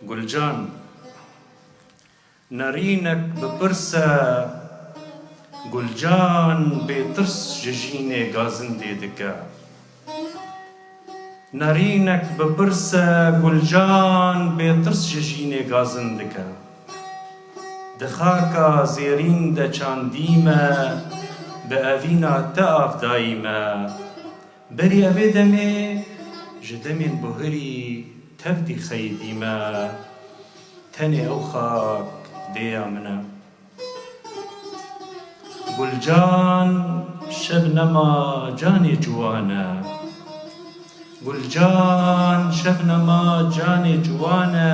Gulcan, Nerînek bi pirs e. Gulcan bêtirs ji jînê gazindê dike. Nerînek bi pirs e. Gulcan bêtirs ji jînê gazind dike. Di xaka zêrîn de çandî me, bi evîna te av dayî me. Berî evê demê ji demên buhirî tev dîxeyî dî me. Tenê ew xak dêya min e. Gulcan Şebnema canê ciwan e. Gulcan Şebnema canê ciwan e.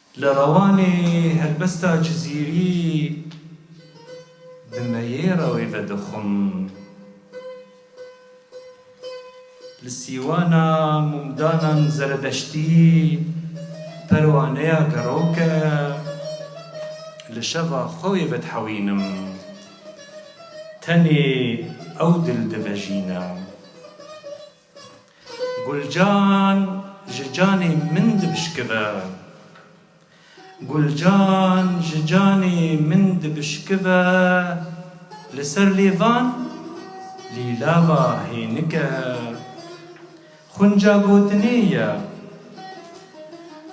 Li Rewanê helbesta Cizîrî di meyêra wê ve dixwim. Li sîwana mumdanan zeredeştî perwaneya gerok e. Li şeva xwe wê vedihewînim. Tenê ew dil divejîne. Gulcan ji canê min dibişkive. Gulcan ji canê min dibişkive Li ser lêvan lîlava hênike Xunca gotinê ye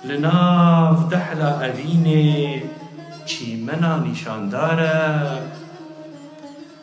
Li nav dehla evînê çîmena nîşandar e.